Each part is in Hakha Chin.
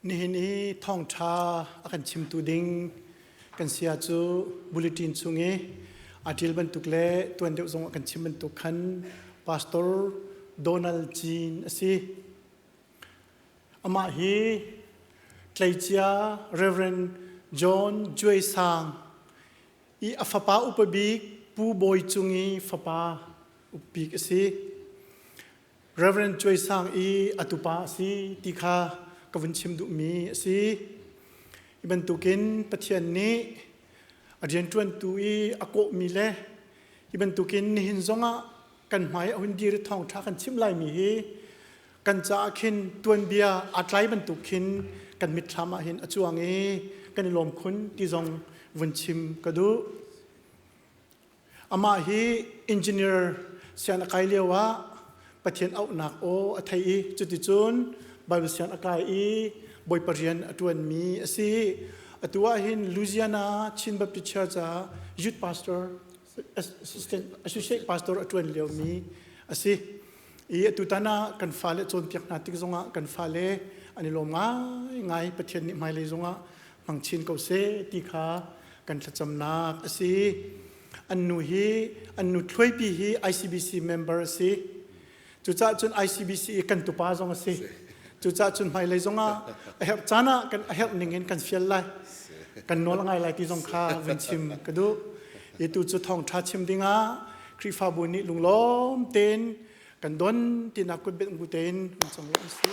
Nihin i thawngṭha a kan chimtu ding kan saya cu bulletin chung i a ṭil bantuk le tuan deuh zong a kan chim bantuk khan Pastor Donald Jean a si. Amah hi tleicia Reverend John Juai Sang i a fapa upa bik Pu Bawi Cung i fapa ukbik a si. Reverend Cuai Sang i a tupa a si ti kha ka vun chim duhmi a si. Hi bantukin Pathian nih a rianṭuantu i a kawhmi le hi bantukin nihin zongah kan hmai a hun dir thawngṭha kan chim laimi hi kan caah khin tuanbia aa tlai bantuk khin kan mitthlam ah hin a cuang i kan i lawm khun ti zong vun chim ka duh. Amah hi engineer sian a kai lio ah Pathian auhnak aw a thei i cuticun Baibal sian a kai i Bawipa rian a ṭuanmi a si. Atu ahhin Louisiana Chin Baptist Church ah youth pastor, assistant, associate pastor a ṭuan liomi a si. I atutan ah kan fale cawnpiak hna tik zongah kan fale an i lawm ngaingai Pathian nih hmailei zongah hmang chin ko seh ti kha kan thlacamnak a si an nu hi an nu thluaipi hi ICBC member a si cucah cun ICBC i kan tupa zong a si cucah cun hmailei zong ah a herh caan ah kan a herh ning in kan fial lai kan nawl a ngai lai ti zong kha vun chim ka duh i tu cu thawngtha chim dingah Khrihfabu nih lunglawm tein kan don tinak kutbet hmu tein kan cung an si.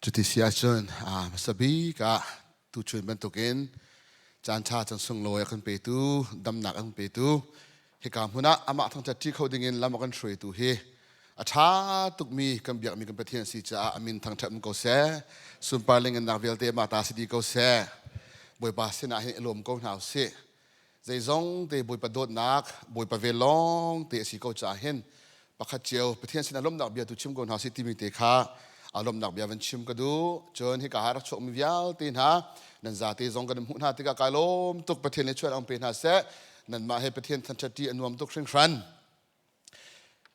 Cuti si ahcun hmasa bik ah tuchun bantukin caanṭha can sunglawi a kan petu, damnak a kan petu, hika hmun ah amah thangṭhat ṭi kho dingin lam a kan hruaitu hi a ṭha tukmi kan biakmi kan Pathian a si caah a min thangṭhat um ko seh. Sunparling innak vialte mah ta si dih ko seh. Bawipa sinah hin i lawm ko hna u sih. Zeizong te Bawipa dawtnak, Bawipa ve lawng te a si ko caah hin pakhat cio Pathian sinah lawmhnak bia tu chim ko hna si timi te kha a lawmhnak bia van chim ka duh. Cun hika ha rak chuakmi vialte hna nan zate zong kan hmuh hna tikah kai lawm tuk Pathian he chuan ang pe hna seh. Nanmah he Pathian thangṭhat a nuam tuk hringhran.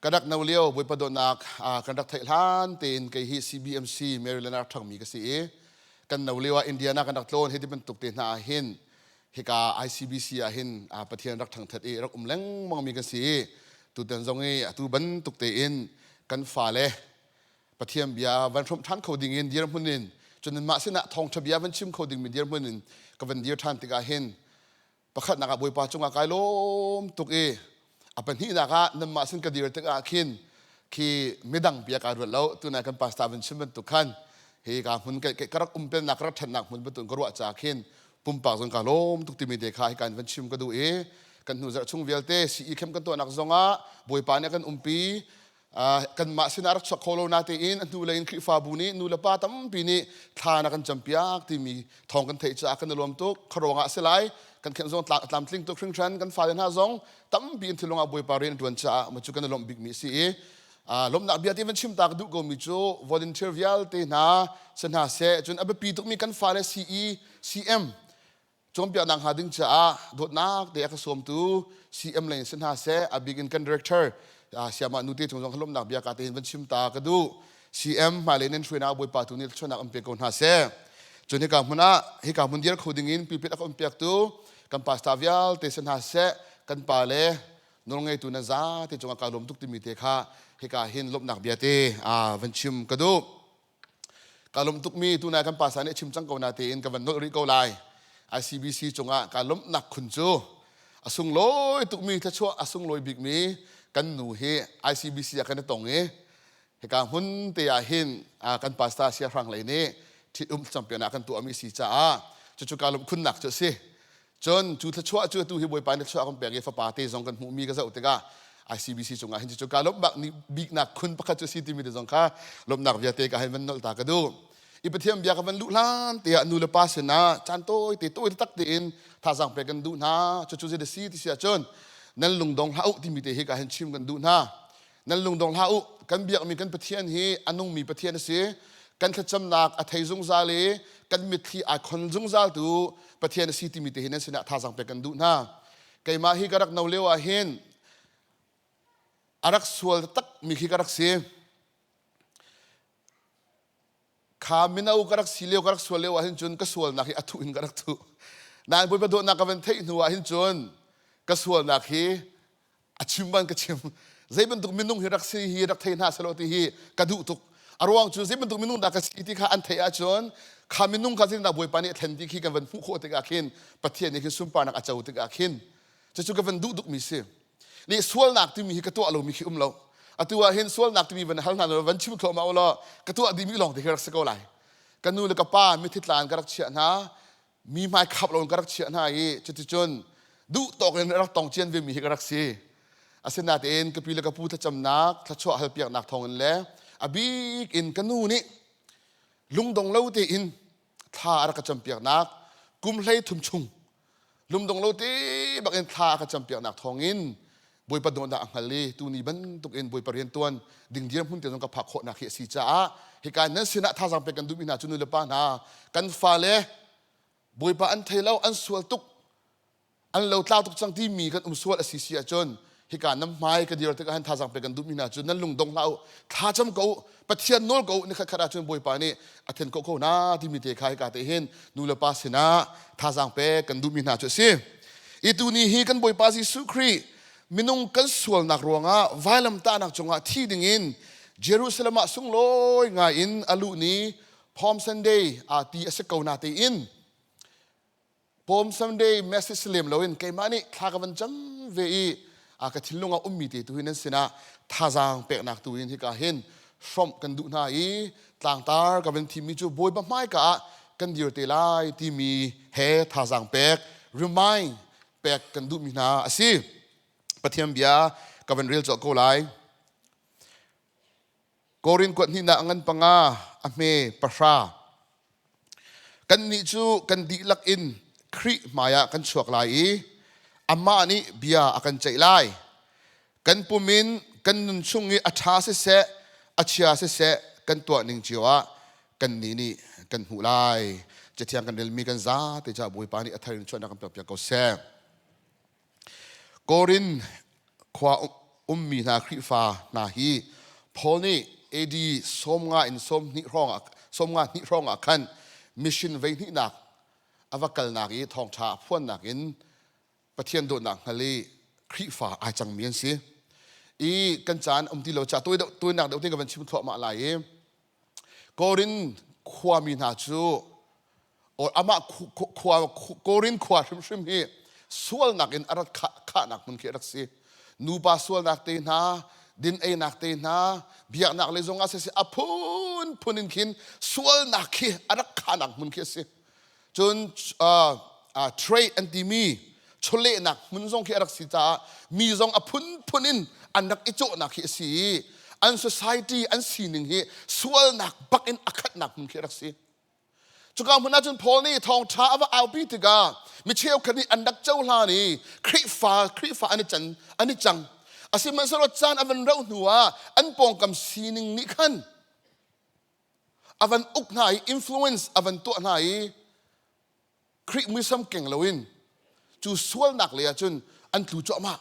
Ka rak no lio Bawipa dawtnak kan rak theih hlan tein kei hi CBMC Maryland ah ṭhangmi ka si i kan no lio ah Indiana kan rak tlawn hi ti bantuk te hna ah hin hika ICBC ah hin Pathian rak ṭhangthat i rak um lengmangmi kan si i tutan zong i atu bantuk tein kan fale Pathian bia van hrawmh ṭhan kho ding in dirhmun in cun mah sinah thawngṭha bia van chim kho dingmi dirhmun in ka van dir ṭhan tikah hin Pakhatnak ah Bawipa cungah kai lawm tuk i a pahnihnak ah nanmah sin ka dir tikah khin khi midang bia kai ruat lo tunai kan pastor vun chim bantuk khan hi ka hmun ka ka rak umpennak ka rak ṭhatnak hmun batun ka ruah ca khin pumpak zong ka lawm tuk timi te kha hi kan van chim ka duh i kan hnu zarh chung vialte CE camp kan tuahnak zongah Bawipa nih a kan umpi kanmah sinah rak chuak kho lo natein a hnulei in Khrihfabu nih nu le pa tampi nih thla na kan campiak timi thawng kan theih caah kan i lawm tuk kha ruangah a si lai kan khenh zong tlamtling tuk hringhran kan fale hna zong tampi in thilung ah bawipa rian ṭuan caah ma cu kan i lawmh bikmi a si i lawmhnak bia ti van chim tak duh komi cu volunteer vialte hna si hna seh cun a biapi tukmi kan fale si i cm cawnpiaknak hnga ding caah dawtnak te a ka sawmtu CM leng si hna se a big in kan director siamah nu te chung zong lomnak bia ka te hin van chim ta ka duh CM hmailei nan hruainak bawipa tu nih thluanak an pe ko hna se cun hika hmun ah hika hmun dir kho ding in pipit a kan piaktu kan pasta vialte si hna se kan pa le nawlngei tu na za te cung a ka lom tuk timi te kha hika hin lomnak bia te van chim ka duh ka lum tukmi tunai kan pasa nih chim cang ko natein ka van nolh rih ko lai ICBC cungah ka lomhnak khun cu a sunglawi tukmi thluachuah a sunglawi bikmi kan nu hi ICBC ah kan i tong i hika hmun te ah hin kan pasta sia hrang lei nih ṭhit um champion ah kan tuahmi si caah cucu ka lum khunnak cu a si Cun cu thluachuah cu atu hi Bawipa nih thluachuah kan pek i fapa te zong kan hmuhmi ka zoh tikah ICBC cungah hin cucu kaa lawmhnak biknak khun pakhat cu a si timi te zong kha lawmhnak vialte ka hei van nolh ta ka duh. I Pathian bia ka van luh hlan te ah nu le pa sinah caan tawi te tawi tak tein thazaang pek kan duh hna. Cucu zeidah si ti si ahcun nan lungdong hlah u timi te hi ka hin chim kan duh hna. nan lungdong hlah u kan biakmi kan pathian hi a nungmi pathian a si kan thlacamnak a thei zungzal i kan mitthli aa khon zungzal tu pathian a si timi te hin an sinah thazang pek kan duh hna keimah hi ka rak no lio ah hin a rak sual takmi khi ka rak si kha mino ka rak si lio ka rak sual lio ahhin cun ka sualnak hi a thuh in ka rak thuh nain Bawipa dawtnak ka van theih hnu ahhin cun ka sualnak hi a chim ban ka chim zei bantuk minung hi rak si hi rak thei hna selaw ti hi ka duh tuk a ruang cu zei bantuk minung dah ka si ti kha an theih ahcun kha minung kha zeitindah Bawipa nih a thlen ti khi kan van hmuh khawh tikah khin Pathian nih khin sunparnak a co tikah khin cucu ka van duh tuk mi si nih sualnak timi hi ka tuah lomi khi um lo atu ah hin sualnak timi van hal hna law van chim thluahmah u law ka tuah dimi lawng te hi rak si ko lai ka nu le ka pa mithi tlaan ka rak chiah hna mi hmai khap lo ka rak chiah hna i cuticun duhtawk in rak tong cian ve mi hi ka rak si asinain ka pi le ka pu thlacamnak thluachuah halpiaknak thawngin le a bik in ka nu nih lungdong lo tein thla a rak ka campiaknak kum hlei thum chung lungdong lo te bakin thla a ka campiaknak thawngin bawipa dawtnak a hngal i tuni bantukin bawipa riantuan ding dirhmun te zong ka phak khawhnak hi a si caah hika nan sinah thazang pek kan duhmi hna cu nu le pa hna kan fale bawipa an thei lo an sual tuk an lo tlau tuk cang timi kan um sual a si si ahcun hika nam hmai ka dir tikah han thazang pe kan duhmi hna cu nan lung dong hlah u thlacam ko u pathian nawl ko u ni khatkhat ahcun bawipa nih a then ko ko na timi te kha hika te hin nu le pa sinah thazang pe kan duhmi hna cu a si i tuni hi kan bawipa jesuh khrih minung kan sualnak ruangah vailamtahnak cungah thi dingin jerusalem ah sunglawi ngai in a luh ni palm sunday aa ti a si ko na tein Pawm Sunday message lem loin keimah nih thla ka van cam ve i a ka thinlung a ummi te tu hin an sinah thazaang peknak tu hin hika hin hrawmh kan duh hna i tlangtar ka van thimmi cu bawipa hmaika ah kan dir te lai timi he thazaang pek remind pek kan duhmi hna a si pathian bia ka van rel cawk ko lai Korin kuat hnihnak ngan panga a hme pahra. Kannih cu kan dihlak in Khrih hmaiah kan chuak lai i amah nih bia a kan ceih lai. Kan pum in kan nun chung i a ṭha siseh, a chia siseh kan tuahning cio ah kannih nih kan hmuh lai. Cathiang kan relmi kan zate cu Bawipa nih a thar in chuahnak kan pek piak ko seh. Korin khua ummi hna Khrihfa hna hi Paul nih AD sawmnga in sawmhnih hrawngah sawmnga hnih hrawngah khan mission veihnihnak a va kalnak i thawngṭha a phuannak in Pathian dawtnak hngal i Khrihfa ai cangmi an si. I kan caan um ti lo cah tawinak deuh te in ka van chim thluahmah lai i Korin khuami hna cu amah Korin khua hrimhrim hi sualnak in a rat khahnak hmun khi a rak si. Nupa sualnak te hna, din einak te hna, biaknak lei zongah sisih, a phunphun in khin sualnak khi a rak khahnak hmun khi a si. cun trade an timi chawlehnak hmun zong khi a rak si caah mi zong a phunphun in an rak i cawhnak hi a si i an society an sining hi sualnak bak in a khatnak hmun khi a rak si cuka hmun ahcun Paul nih thawngṭha a va aupi tikah mi cheukhat nih an rak cohlan i Khrihfa Khrihfa an i can an i cang a sihmanhsehlaw caan a van rauh hnu ah an pawngkam sining nih khan a van uk hna i influence a van tuah hna i Greek muisam keng loin cu sualnak lei ah cun an tlu cuahmah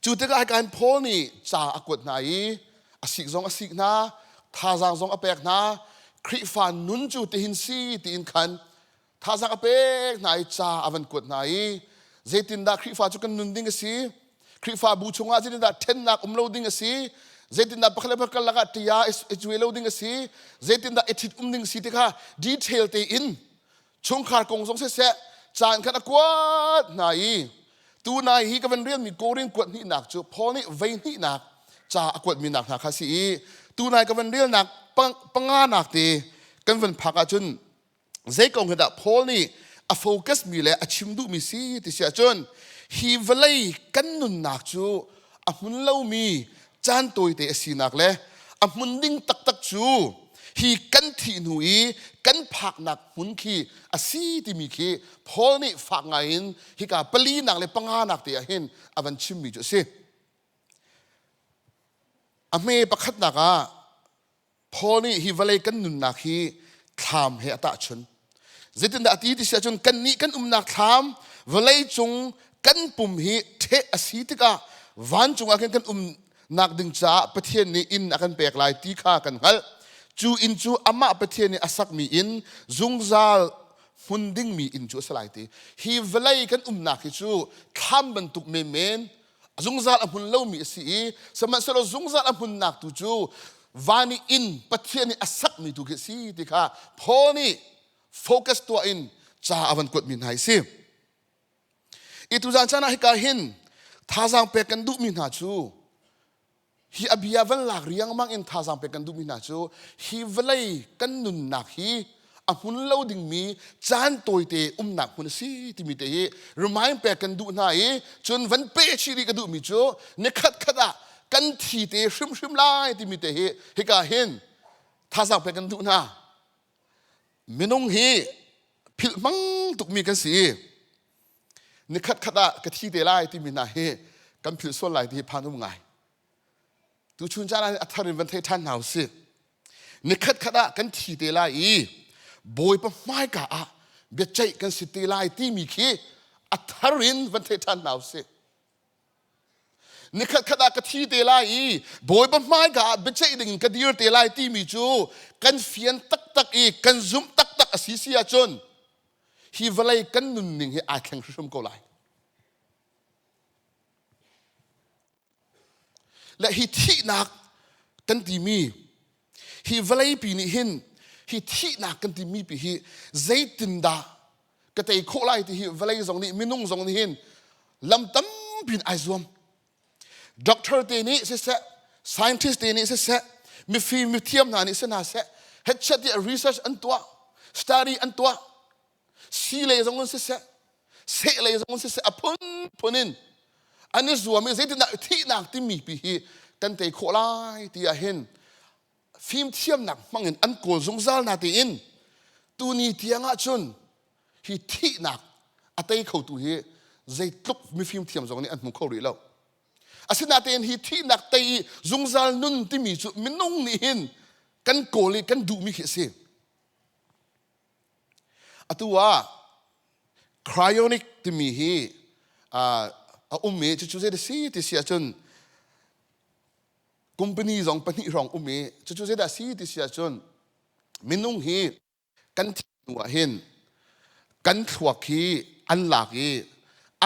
cu tikah hika hin Paul nih ca a kuat hna i a sik zong a sik hna thazaang zong a pek hna Khrihfa nun cu tihin si tiin khan thazang a pek hna i ca a van kuat hna i zeitindah Khrihfa cu kan nun ding a si Khrihfabu chungah zeitindah ṭhennak um lo ding a si zeitindah pakhat le pakhat lakah ṭia i cuai lo ding a si zeitindah i ṭhit um ding a si ti kha detail tein chungkhar kong zong seseh caan khan a kuat hna i tu nai hi ka van rialmi koring kuat hnihnak cu Paul nih vei hnihnak ca a kuatmi nak hna kha si i tunai ka van rialnak panga nak te kan van phak ahcun zei kong hi dah Paul nih a focus mi le a chim duhmi si ti si ahcun hi vawlei kan nunnak cu a hmun lomi caan tawite a sinak le a hmun ding taktak cu hi kan thih hnu i kan phaknak hmun khi a si timi khi Paul nih fak ngai in hika palinak le panganak te ah hin a van chimmi cu a si a hme pakhatnak ah Paul nih hi vawlei kan nunnak hi thlam he a tahchun. Zeitindah a ti ti si ahcun kannih kan umnak thlam vawlei cung kan pum hi ṭheh a si tikah vancung ah khin kan umnak ding caah Pathian nih inn a kan pek lai ti kha kan hngalh. Cu inn cu amah Pathian nih a sakmi inn, zungzal hmun dingmi inn cu a si lai ti. Hi vawlei kan umnak hi cu thlam bantuk menmen, zungzal a hmun lomi a si i sihmanhsehlaw zungzal a hmunnak tu cu van i inn pathian nih a sakmi tu khi a si ti kha Paul nih focus tuah in ca a van kuatmi hna hi si i tuzan chan ah hika hin thazaang pek kan duhmi hna cu hi abia van lak riangmang in thazang pek kan duhmi hna cu hi vawlei kan nunnak hi a hmun lo dingmi caan tawite umnak hmun a si timi te hi remind pek kan duh hna i cun van pe chih rih ka duhmi cu ni khat khat ah kan thi te hrimhrim lai timi te hi hika hin thazang pek kan duh hna minung hi philh mang tukmi kan si nikhatkhat ah ka thi te lai timi hna hi kan philh sual lai ti hi phan um ngai tu chun caan ah a thar in van thei ṭhan hna u si nikhatkhat ah kan thi te lai i bawipa hmaika ah bia ceih kan si te lai timi khi a thar in van thei ṭhan hna u si Nikhatkhat ah ka thi te lai i Bawipa hmaika ah biaceih ding in ka dir te lai timi cu kan fian taktak i kan zumh taktak a si si ahcun hi vawlei kan nunning hi aa thleng hrimhrim ko lai. Le hi thihnak kan timi Hi vawleipi nih hin hi thihnak kan timi pi hi zeitindah ka tei khawh lai ti hi vawlei zong nih minung zong nih hin lam tampi in ai zuam doctor te nih siseh scientist te nih siseh mifim mithiam hna nih si hna seh headset i research an tuah study an tuah si lei zong in siseh seh lei zong in siseh a phunphun in an i zuam i zeitindah thihnak timi pi hi kan tei khawh lai ti ah hin fimthiamnak hmang in an kawl zungzal na tiin tuni tiang ah cun hi thihnak a tei kho tu hi zeitluk mifimthiam zong nih an hmu kho rih lo asinain hi thihnak tei i zungzal nun timi cu minung nih hin kan kawl i kan duhmi khi a si Atu ah cryonic timi hi a um i cucu zei a si ti si ahcun company zong pahnih hrawng um i cucu zeidah a si ti si ahcun minung hi kan thih hnu ah hin kan thluak hi an lak i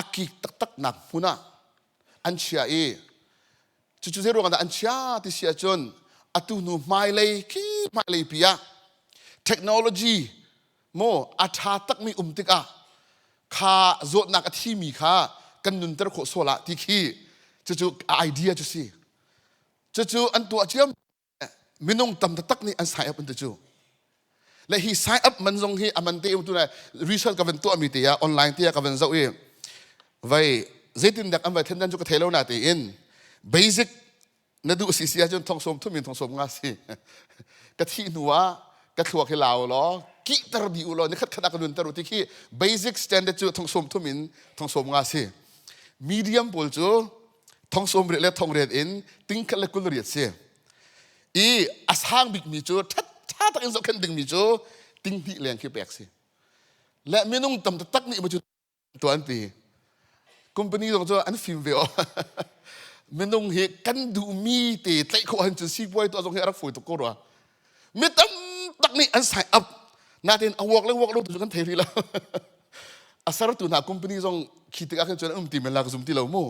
a kik taktaknak hmun ah an chiah i Cucu zei ruangah dah an chia ti si ahcun atu hnu hmailei khi hmailei pi ah technology maw a ṭha takmi um tikah kha zawtnak a thimi kha kan nunter khawh sual ah ti khi cucu a idea cu si cucu an tuah ciam minung tam taktak nih an sign up an ti cu le hi sign up man zong hi a man te tu le research ka van tuah mi te ah online te ah ka van zoh i vai zeitin dak an vai thendan chu ka thei lo na te in basic na duh si si ahcun thong som thum in thong som nga si ka thi hnu ah ka thluak hi lau law ki tar di u law ni khat khat ka nun taru ti khi basic standard chu thong som thum in thong som nga si medium pawl cu thongsawm riat le thongriat in tingkhat le kul riat si i a sang bikmi cu ṭha tak in zohkhenh dingmi cu tinghnih leng khi pek si le minung tam taktak nih cu tuah an ti company zong cu an fim ve o minung hi kan duhmi te tlaih khawh han cu sipuai tuah zong hi a rak fawi tuk ko rua mi tamtak nih an sign up natin a work le work lo tu kan thei rih lo a sertu hna company zong khi tik ah khan cun um ti men lak zum ti lo mu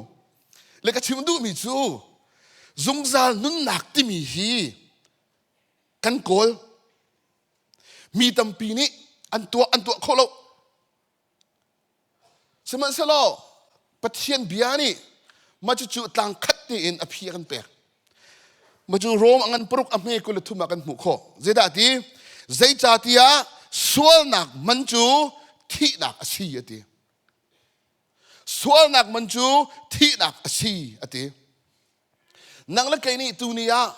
le ka chim duh mi cu zungzal nunnak timi hi kan kawl mi tampi nih an tuah an tuah kho lo Sihmanhsehlaw Pathian bia nih mah cucu tlang khat tein a phi a kan pek. Mah cu Rom a ngan paruk a hme kul le thum ah kan hmuh khawh. Zeidah ti? Zeicahtiah sualnak man cu thihnak a si a ti. Sualnak man cu thihnak a si a ti. Nang le kei nih tuni ah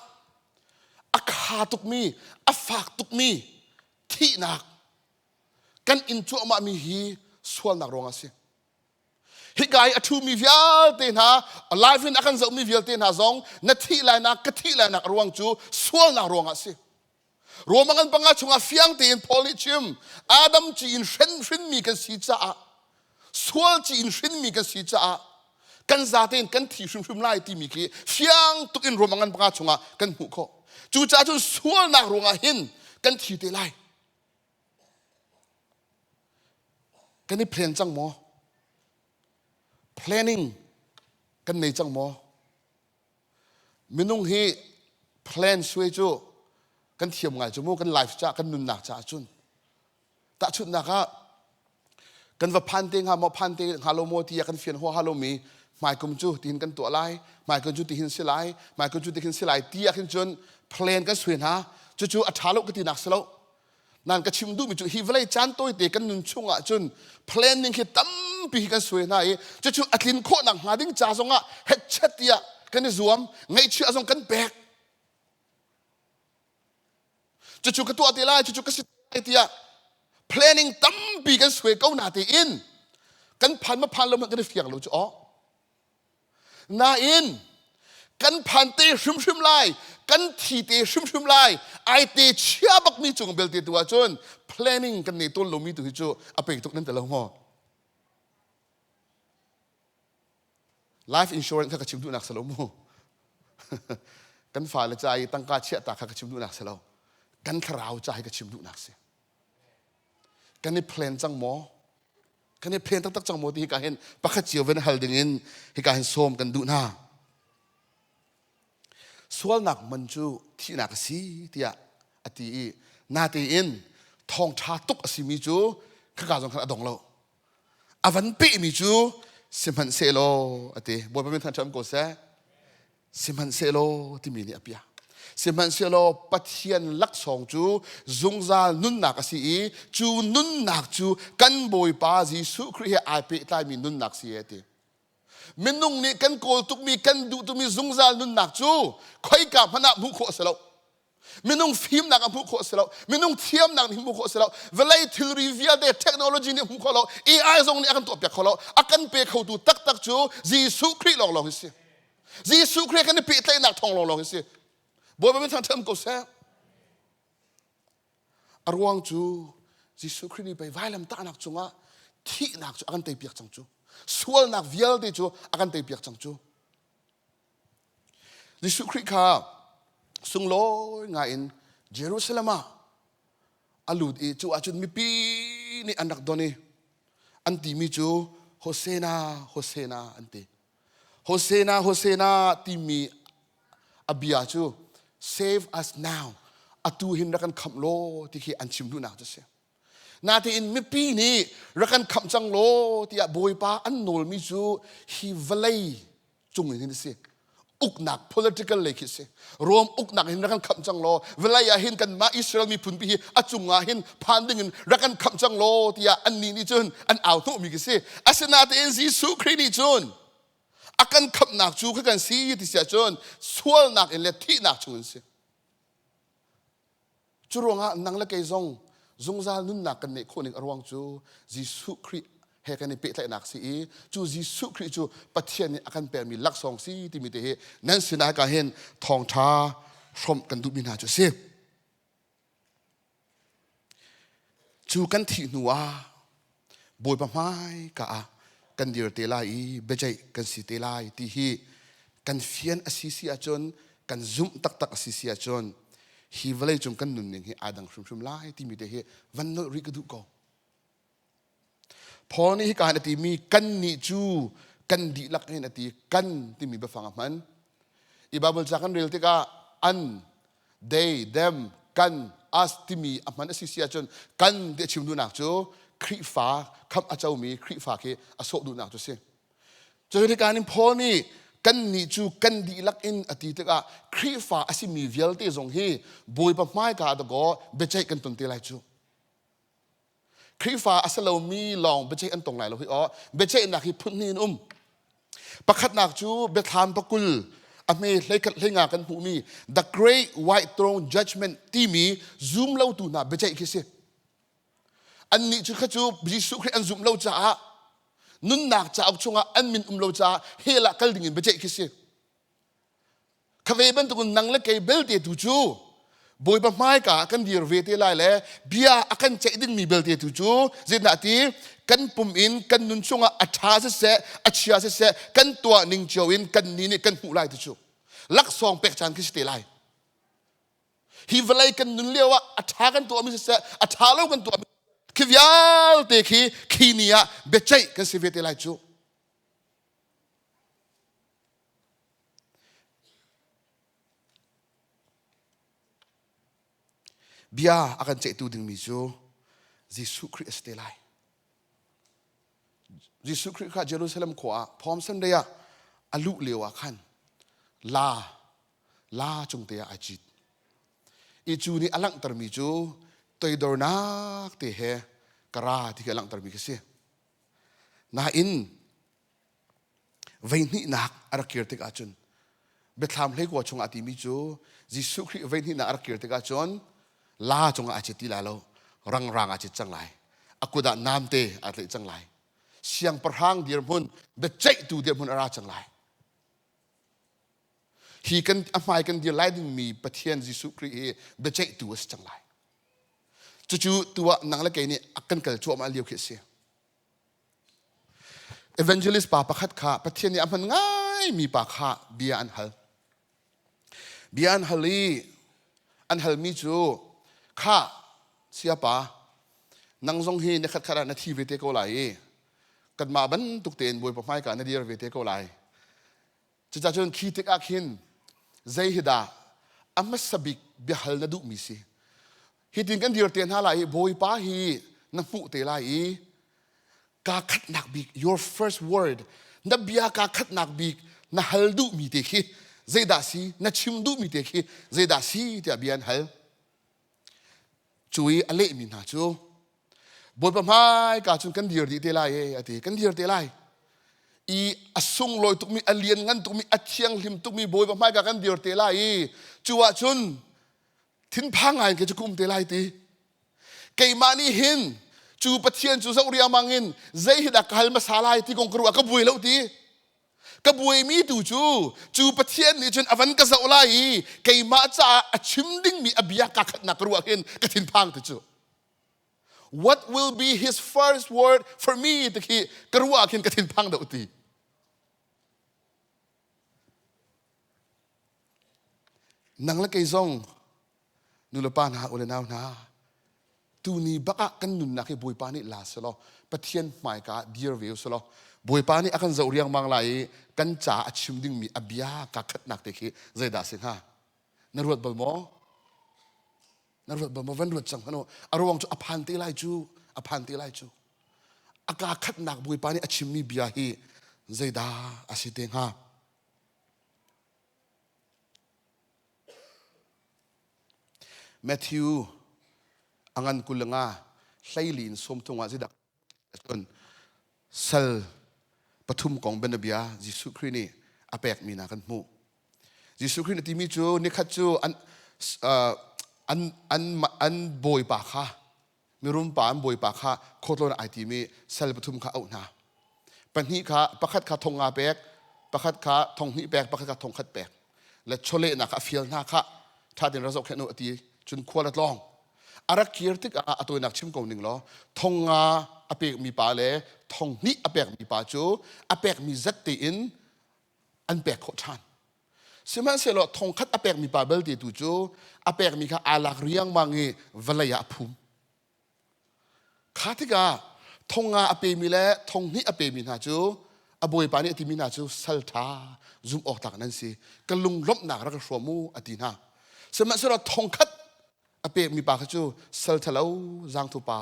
a kha tukmi, a fak tukmi thihnak kan inn cuahmahmi hi sualnak ruang a si hika i a ṭhumi vialte hna live in a kan zohmi vialte hna zong na thih lainak ka thih lainak ruang cu sualnak ruangah a si Rome a ngan panga chungah fiang tein Paul nih chim Adam ci in hrinhrinmi kan si caah sual ci in hrinmi kan si caah kan zate in kan thi hrimhrim lai timi khi fiang tuk in Rome a ngan panga chungah kan hmuh khawh cucaah cun sualnak ruangah hin kan thi te lai Kan i plan cang maw? Planning kan nei cang maw? Minung hi plan suai cu kan thiam ngai cu mu, kan life caah, kan nunnak caah cun. Tahchunhnak ah, kan va phan te hnga maw phan te hnga lo maw ti kan fian hua ha lo mi hmaikum cu tihin kan tuah lai hmaikum cu tihin si lai hmaikum cu tihin si lai ti ah khin cun plan kan sui hna cucu a ṭha lo ka ti nak si lo nan ka chim duhmi cu hi vawlei caan tawite kan nun chung ah cun planning hi tampi kan sui hna i cucu a tlin khawh nak hnga ding ca zong ah hetchet tiah kan i zuam ngaihchia zong kan pek cucu ka tuah te lai cucu ka si tiah planning tampi kan sue ko na tein kan phan ma phan lo kan i fiang lo cu aw nain kan phan te hrimhrim lai kan thi te hrimhrim lai ai te chia bakmi cung belte tu ahcun planning kan nei tawn lomi tu hi cu a pei tuk nan te lo ngo life insurance kha ka chim duhnak si lo mu kan fale ca i tangka chiahta kha ka chim duhnak si lo kan thlarau ca hi ka chim duhnak si kan i plan cang maw kan i plan taktak cang maw ti hika hin pakhat cio ven hal ding in hika hin sawm kan duh hna sualnak man cu thihnak a si tiah a ti i natein thawngṭha tuk a simi cu khaka zong khan a dong lo A van pehmi cu sihmanhsehlaw a ti. Bawipa min thanṭam ko seh. Sihmanhsehlaw timi nih a piah. Sihmanhsehlaw Pathian laksawng cu zungzal nunnak a si i cu nunnak cu kan Bawipa Jesuh Khrih he ai pehtlaimi nunnak si a ti. Minung nih kan kawl tukmi, kan duh tukmi zungzal nunnak cu khoika hmanh ah hmuh khawh a si lo. Minung fimnak ah hmuh khawh a si lo. Minung thiamnak nih hmuh khawh a si lo. Vawlei thilri vialte, technology nih hmuh khawh lo. AI zong nih a kan tuahpiak kho lo. A kan pe khotu taktak cu Jesuh Khrih lawnglawng hi si. Jesuh Khrih kan i pehtlaihnak thawng lawnglawng hi si. Bawipa min thang ṭhem ko seh. A ruang cu Jesuh Khrih nih pei vailamtahnak cungah thihnak cu a kan teipiak cang cu sualnak vialte cu a kan teipiak cang cu Jesuh Khrih kha sunglawi ngaiin Jerusalem ah a lut i cu ahcun mipi nih an rak don i an timi cu Hosena Hosena an ti Hosena, Hosena timi a bia cu save us now atu hin rak kan khamh law ti khi an chim hnunak cu a si. Natein mipi nih rak kan khamh cang law tiah Bawipa an nawlmi cu hi vawlei cung in hin a si. Uknak political lei khi a si. Rom uknak hin rak kan khamh cang law vawlei ah hin kanmah Israel miphun pi hi a cungah hin phan dingin rak kan khamh cang law tiah annih nih cun an au hnawhmi khi si asinain Jesuh Khrih nih cun a kan khamhnak cu kha kan si ti siah cun sualnak in le thihnak chung an si Curuangah nang le kei zong zungzal nunnak kan neih khawh ning a ruang cu Jesuh Khrih he kan i pehtlaihnak si i cu Jesuh Khrih cu Pathian nih a kan permi laksawng si timi te hi nan sinah hika hin thawngṭha hrawmh kan duhmi hna cu a si. Cu kan thih hnu ah Bawipa hmaika ah kan dir te lai i biaceih kan si te lai ti hi kan fian a si si ahcun kan zumh taktak a si si ahcun hi vawlei cung kan nunning hi aa dang hrimhrim lai timi te hi van nolh rih ka duh ko Paul nih hika hin a timi kan nih cu kan dihlak hin a ti kan timi biafang a hman i Bible ca kan rel tikah an they, them, kan, us timi a hman a si si ahcun kan ti a chim duhnak cu Khrihfa, kham a comi Khrihfa khi a sawh duhnak cu si. Cu kaan in Paul nih kan nih cu kan dihlak in a ti tikah Khrihfa a simi vialte zong hi Bawipa hmaika ah dakaw biaceih kan ton te lai cu. Khrihfa a si lomi lawng biaceih an tong lai lo hi aw. Biaceihnak hi phun hnih in um. Pakhatnak cu biathlam pakul a hme hlenga kan hmuhmi The Great White Throne Judgment timi zumlotu hna biaceih khi si. Annih cu kha cu Jesuh Khrih an zumh lo caah nunnak cauk chungah an min um lo caah hell ah kal dingin biaceih khi si. Khave bantukin nang le kei belte tu cu Bawipa hmaika ah kan dir ve te lai le bia a kan ceih dingmi belte tu cu zetlah ti kan pum in kan nun chungah a ṭha siseh a chia siseh kan tuah ning cio in kan ni nih kan hmuh lai tu cu laksawng pek caan khi si te lai hi vawlei kan nun lio ah a ṭha kan tuahmi siseh a ṭha lo kan tuahmi khi vialte khi khi ni ah biaceih kan si ve te lai cu Bia a kan ceihtu dingmi cu Jesuh Khrih a si te lai. Jesuh Khrih kha Jerusalem khua ah Pom Sunday ah a luh lio ah khan la la cung te ah a cit. I cu nih a langhtermi cu toidornak te he ka ra ti khi a langhtermi khi a si. Nain Veihnihnak a rak kir tikah cun Biathlam hleikua chungah a timi cu Jesuh Khrih veihnihnak a rak kir tikah cun la cungah a cit ti la lo rangrang a cit cang lai a kut ah namte a tlaih cang lai siangpahrang dirhmun biaceihtu dirhmun a ra cang lai hi kan a hmai kan dir lai dingmi Pathian Jesuh Khrih hi biaceihtu a si cang lai cucu tu ah nang le kei nih a kan kal cuahmah lio khi a si Evangelist pa pakhat kha Pathian nih a hman ngaimi pa kha bia an hal. Bia an hal i an halmi cu, Kha, siapa, nang zong hi ni khatkhat ah na thi ve te ko lai i kanmah bantuk tein Bawipa hmaika na dir ve te ko lai. Cucacun khi tikah khin zei hi dah a hmasa bik biahal na duhmi si? Hitin kan dir te hna lai i Bawipa hi na hmuh te lai i kaa khatnak bik your first word na bia kaa khatnak bik na hal duhmi te khi zeidah si na chim duhmi te khi zeidah si tiah bia an hal Cu i a lehmi hna cu Bawipa hmaika cun kan dir dih te lai e a ti kan dir te lai i a sunglawi tukmi a lianngan tukmi a thianghlim tukmi Bawipa hmaika kan dir te lai i cu ah cun thinphang ngai ke cu kum te lai ti keimah nih hin cu Pathian cu zoh riangmang in zei hi dah ka hal hmasa lai ti kong ka ruah ka buai lo ti ka buaimi tu cu cu pathian nih cun a van ka zoh lai i keimah caah a chim dingmi a bia ka khatnak ka ruah hin ka thinphang tu cu what will be his first word for me ti khi ka ruah khin ka thinphang deuh ti nang le kei zong nulepa hna ule nau hna tuni bak ah kan nunnak hi bawipa nih la selaw pathian hmaika ah dir ve selaw bawipa nih a kan zoh riangmang lai i kan ca a chim dingmi a bia ka khatnak te khi zeidah si hnga na ruat bal maw na ruat bal maw van ruat cang hano a ruang cu a phan te lai cu a phan te lai cu a ka khatnak bawipa nih a chimmi bia hi zeidah a si te hnga Matthew a ngan kul nga hleili in sawm tung ah zidak cun sal pathum kong benabia Jesuh Khrih nih a pekmi na kan hmuh. Jesuh Khrih na timi cu nikhat cu an an an an bawipa kha mirumpa an bawipa kha khawtlawn ai tim i sal pathum kha auh hna pahnih kha pakhat kha thong nga pek pakhat kha thong hnih pek pakhat kha thong khat pek le chawlehnak kha a fial hna kha ṭhatin ra zoh khen u a ti cun khua le tlawng a rak kir tik ah a tawinak chim ko ning law thong nga a pekmi pa le thong hnih a pekmi pa cu a pekmi zat tein an pek khawh ṭhan sihmanhsehlaw thongkhat a pekmi pa belte tu cu a pekmi kha aa lak riangmang i vawlei ah a phum kha tikah thong nga a pemi le thong hnih a pemi hna cu a bawipa nih a timi hna cu sal ṭha zum awk tlak nan si ka lunglawmhnak rak ka hrawm u a ti hna sihmanhsehlaw thongkhat a pekmi pa kha cu sal ṭhalo zangthupa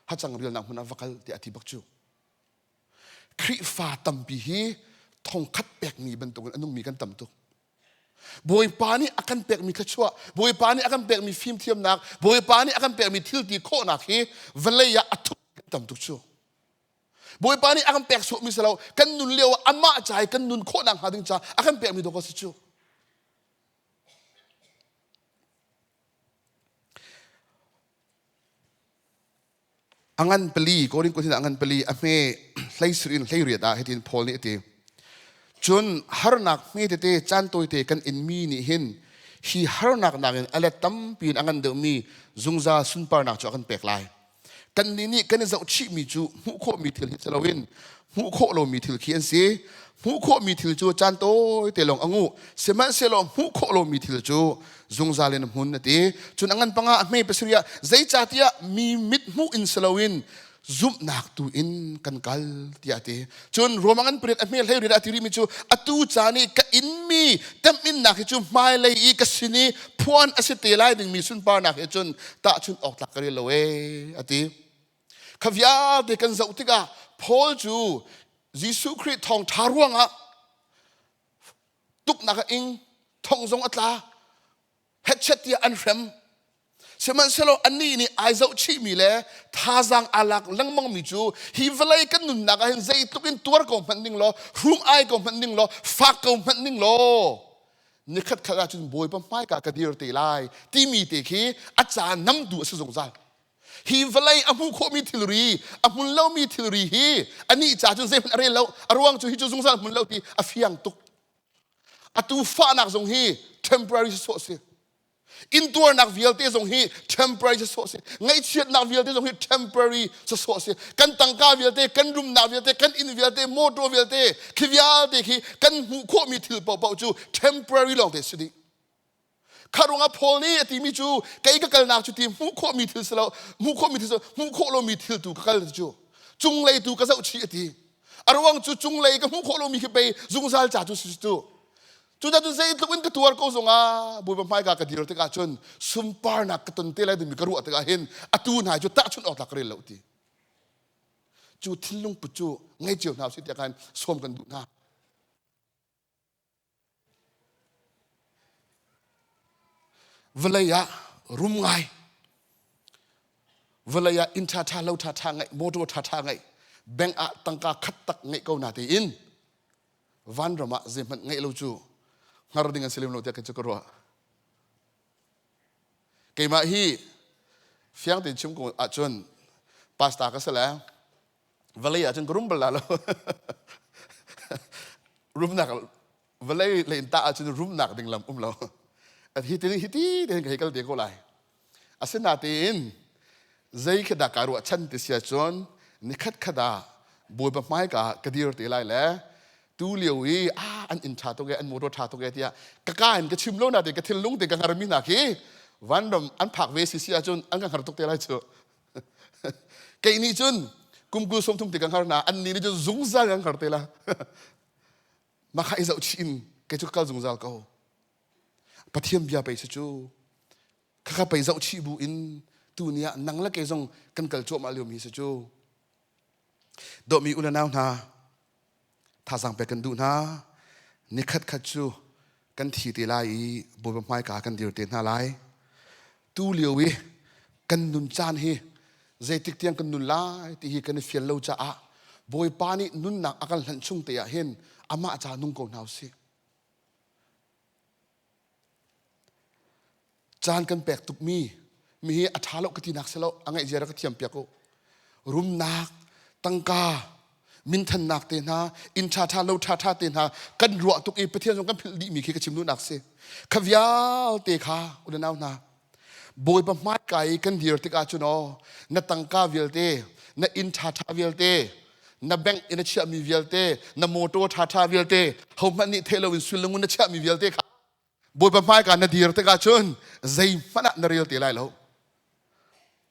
hacang rialnak hmun ah va kal tiah a ti bak cu Khrihfa tampi hi thongkhat pekmi bantukin an ummi kan tam tuk. Bawipa nih a kan pekmi thluachuah, Bawipa nih a kan pekmi fimthiamnak, Bawipa nih a kan pekmi thilti khawhnak hi vawlei ah a thuk kan tam tuk cu. Bawipa nih a kan pek suahmi si lo, kan nun lio ah amah ca i kan nun khawh nakhnga ding caah a kan pekmi dawk a si cu. a ngan pali Korin kut a ngan pali a hme hleisir in hleiriat ah hitin Paul nih a ti cun harnak hme tete caan tawite kan inmi nih hin hi harnak nakin a let tampi in a ngan deuhmi zungzal sunparnak cu a kan pek lai kannih nih kan i zohchihmi cu hmuh khawhmi thil hi si loin hmuh khawh lomi thil khi an si hmuh khawhmi thil cu caan tawite lawng a nguh sihmanhsehlaw hmuh khawh lomi thil cu zungzal in a hmun a ti cun a ngan panga a hmei pasarih ah zeicahtiah mi mit hmuh in si loin zumhnak tu in kan kal tiah ti cun ruamang an pariat a hme hlei riat a tirimi cu atu caan i ka inmi temhinnak hi cu hmailei i ka sin i phuan a si te lai dingmi sunparnak he cun tah cun awk tlak ka rel lo e a ti Kha vialte kan zoh tikah Paul cu Jesuh Khrih thawngṭha ruangah tuknak a ing, thong zong a tla, hetchet tiah an hrem. Sihmanhsehlaw anih nih ai zohchihmi le thazaang aa lak lengmangmi cu hi vawlei kan nunnak ah hin zeitluk in tuar ko hmanh ning law, hrum ai ko hmanh ning law, fak ko hmanh ning law, nikhat khat ah cun Bawipa hmaika ka dir te lai timi te khi a caan namtu a si zungzal. Hi vawlei a hmuh khawhmi thilri, a hmun lomi thilri hi anih ca cun zeihmanh a rel lo, a ruang cu hi cu zungzal hmun lo hi a fiang tuk. A tuufahnak zong hi temporary si sawh si. Intuarnak vialte zong hi temporary si sawh si. Ngaihchiatnak vialte zong hi temporary si sawh si. Kan tangka vialte, kan rumnak vialte, kan inn vialte, mawtaw vialte, khi vialte khi kan hmuh khawhmi thil paohpaoh cu temporary lawngte si dih. kha ruangah Paul nih a timi cu kei ka kalnak cu ti hmuh khawhmi thil si lo hmuh khawhmi thil si lo hmuh khawh lomi thil tu ka kal cu cunglei tu ka zohchih a ti a ruang cu cunglei ka hmuh khawh lomi khi pei zungzal ca cu si tu cucun zeitluk in ka tuar ko zongah bawipa hmai ka ka dir tikah cun sunparnak ka ton te lai dimi ka ruah tikah hin atu hnai cu tahchunh awk ka rel lo ti cu thil lungput cu ngei cio hna u si tiah khan sawm kan duh hna vawlei ah rum ngai vawlei ah inn ṭhaṭha lo ṭhaṭha ngeih motor ṭhaṭha ngeih bank ah tangka khat tak ngeih ko na tiin vanram ah zeihmanh ngeih lo cu hngar ding an si lem lo tiah kei cu ka ruah keimah hi fiang tein chim ko ahcun pastor ka si le vale ah cun ka rum bal la lo rumnak vale le in tah ah cun rumnak ding lam um lo hi tin hi ti ten ka hekal te ko lai asinatein zei khada ka ruah chan ti sia chon ni khat khada boi ba mai ka ka dir te lai le tu liu i a an in tha to ge an motor tha to ge tia ka ka an ka chim lo na te ka thil lung te ka ngar mi na ki vanram an phak ve si sia chun an ka ngar tuk te lai chu kei nih cun kumkul sawm thum te kan har na an ni nih cun zungzal kan har te la makha i zoh chih in kei cu ka kal zungzal ko pathian bia pei si cu khakha pei zoh chih bu in tu ni ah nang la kei zong kan kal cuahmah liomi si cu dawmi u le nau hna Thazang pek kan duh hna. Nikhat khat cu kan thi te lai i Bawipa hmaika kan dir te hna lai. Tu lio i kan nun caan hi zeitik tiang kan nun lai ti hi kan i fial lo caah Bawipa nih nunnak a kan hlanh chung te ah hin amah ca nung ko hna usih. Caan kan pek tukmi mihi a ṭha lo ka tinak si lo a ngaih zia rak ka thiam piak u. Rumnak, tangka, minthannak te hna, inn ṭha ṭha, lo ṭha ṭha te hna kan ruah tuk i Pathian zong kan philh dihmi khi ka chim duhnak si. Kha vialte kha unau hna Bawipa hmaikai i kan dir tikah cun aw na tangka vialte na inn ṭhaṭha vialte na bank in a chiahmi vialte na motor ṭhaṭha vialte hohmanh nih theih loin sullengun na chiahmi vialte kha bawipa hmaika na dir tikah cun zeihmanh ah na rel te lai lo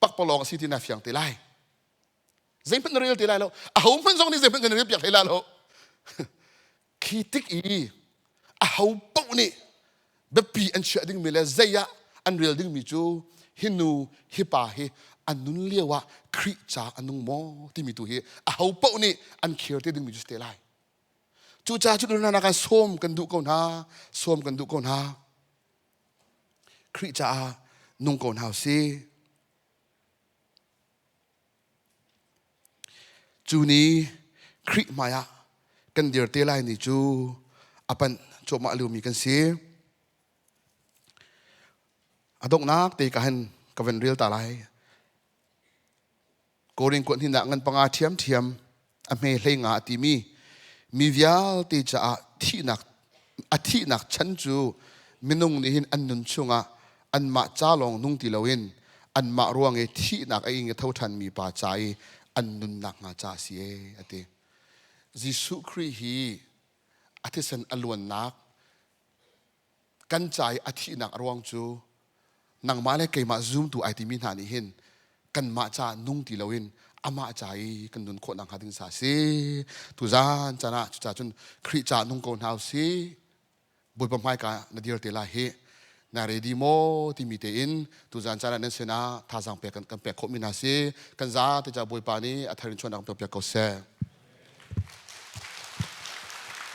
pakpalawng a si ti na fiang te lai zeihmanh na rel te lai lo ahohmanh zong nih zeihmanh kan rel piak hlei la lo Khi tik i aho paoh nih biapi an chiah dingmi le zei ah an rel dingmi cu hi nu hi pa hi an nun lio ah Khrih ca a nung maw timi tu hi aho paoh nih an khir te dingmi cu si te lai cucaah cu hna kan sawm kan duh ko hna sawm kan duh ko hna Khrih caah nung ko hna u si Cu ni Khrih hmaiah kan dir te lai ni cu a panh cuahmah liomi kan si. A donghnak te ka hen ka van rel ta lai. Korin kuat hninah ngan panga ṭhiamṭhiam a hme hlei nga a timi mi vialte caah thihnak a thihnak chan cu minung nih hin an nun chungah anmah ca lawng nung ti loin anmah ruang i thihnak a ing a tho ṭhanmi pa ca i an nunnak hnga ca a si e a ti Jesuh Khrih hi a thisen a luannak kan ca i a thihnak a ruang cu nangmah le keimah zoomtu ai timi hna nih hin kanmah ca nung ti loin amah ca i kan nun khawh nakhnga ding sa si tuzan can ah cuca cun Khrih ca nung ko hna u si Bawipa hmaika na dir te la hi na redi maw timi tein tuzan can ah nan sinah thazang pek kan, kan pek khawhmi hna si kan za te ca Bawipa nih a tharin chuannak kan piak ko seh